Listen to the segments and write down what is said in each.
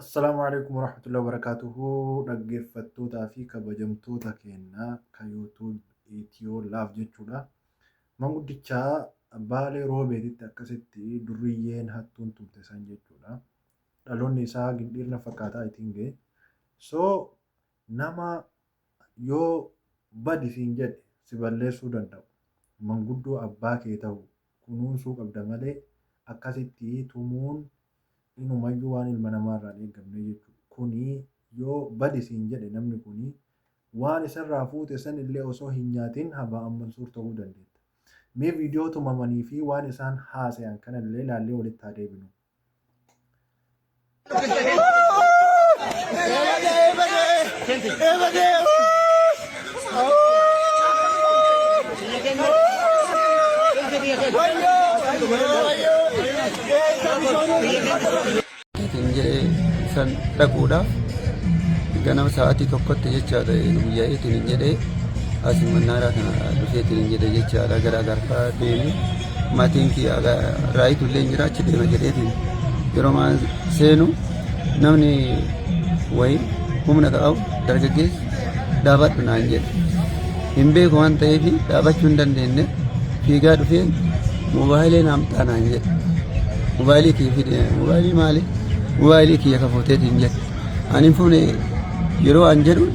Assalaamu alaikum warahmatullahi wabarakatuhu dhaggeeffattootaa fi kabajamtoota keenya ka YouTube Itiyoo Laaf jechuudha. Manguddicha Baalee Roobeetitti akkasitti durriyyeen hattuun tumte san jechuudha. Dhaloonni isaa gindhiirna fakkaataa itiin ga'e. So nama yoo badi siin jedhe si balleessuu danda'u. Manguddoo abbaa kee ta'u kunuunsuu qabda malee akkasitti tumuun inumayyuu waan ilma namaarraa hin eeggamne jechuudha. Kuni yoo badi siin jedhe namni kuni waan isarraa fuute sanillee osoo hin nyaatin Habaa Al-Mansuur ta'uu dandeetta. Mee viidiyoo tumamanii fi waan isaan haasayan kanallee ilaallee walitti haa deebinuu. Ittiin jedhee san dhaquudha. Ganama sa'aatii tokkotti jechaadha guyyaa ittiin jedhee asii mannaaraa kana dhufee ittiin jedhee jechaadha gara garfaa deemee. Maatiin kiyya raayitu illee hin jira achi deema jedheetiin yeroo maan seenu namni wayii humna ta'u dargaggeessi dhaabadhu naan jedhe. Hin beeku waan ta'eef dhaabachuu hin dandeenye fiigaa dhufee moobaayilee naaf ta'a naan jedhe. Moobaayilii kiyya fide moobaayilii maali? Moobaayilii kiyya kafuuteetiin jedhe. Ani fuune yeroo an jedhu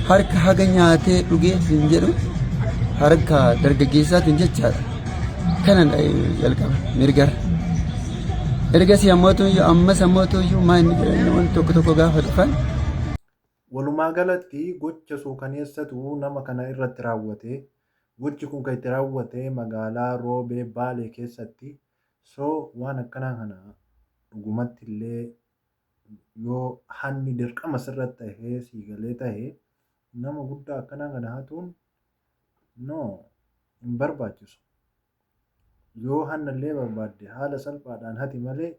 harka haga nyaatee dhugee hin jedhu harka dargaggeessaatiin jechaadha. Kana jalqaba mirgara. Ergasii ammoo tuyyuu ammas ammoo tuyyuu maa inni jedhanii wanti tokko tokko gaafa dhufan Walumaa galatti gocha suukaneessatu nama kana irratti raawwate. Gochi kun kan itti raawwate magaalaa Roobee Baalee keessatti. So waan akkanaa kana dhugumatti illee yoo hanni dirqama sirratti tahee sii galee tahe nama guddaa akkanaa kana hatuun no hin barbaachisu. Yoo hanna illee barbaadde haala salphaadhaan hati malee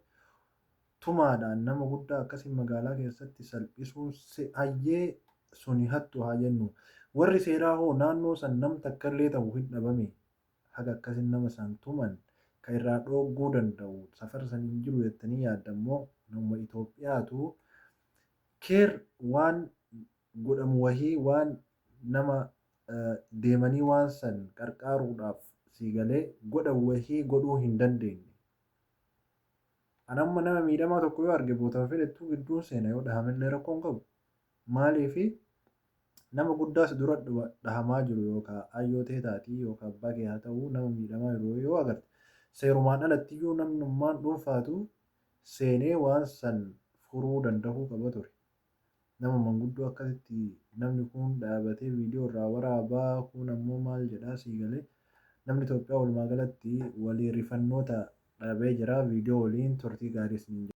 tumaadhaan nama guddaa akkasii magaalaa keessatti salphisuun si hayyee suni hattu haa jennu. Warri seeraa hoo naannoo san nam takka illee tahu hin dhabamee? haga akkasin nama san tuman ka irraa dhoogguu danda'u safara san hin jiru jettanii yaaddan moo namuma Itoophiyaatu care waan godhamu wahii waan nama deemanii waan san qarqaaruudhaaf sii galee godhan wahii godhuu hin dandeenne? An amma nama miidhamaa tokko yoo arge bootama fedhettuu gidduun seena yoo dhahamellee rakkoo hin qabu. Maaliif nama guddaa si dura dhahamaa jiru yookaan ayyoo tee taatii yookaan abbaa kee haa ta'uu nama miidhamaa jiru yoo agarte seerumaan alattiyyuu namnummaan dhuunfaatu seenee waan san furuu dandahuu qaba ture. Nama manguddoo akkasitti namni kuun dhaabatee viidiyoo irraa waraabaa kuun ammoo maal jedhaa sii galee namni Itoophiyaa walumaa galatti walii rifannoota dhabee jira viidiyoo waliin turtii gaarii isiniin jedha.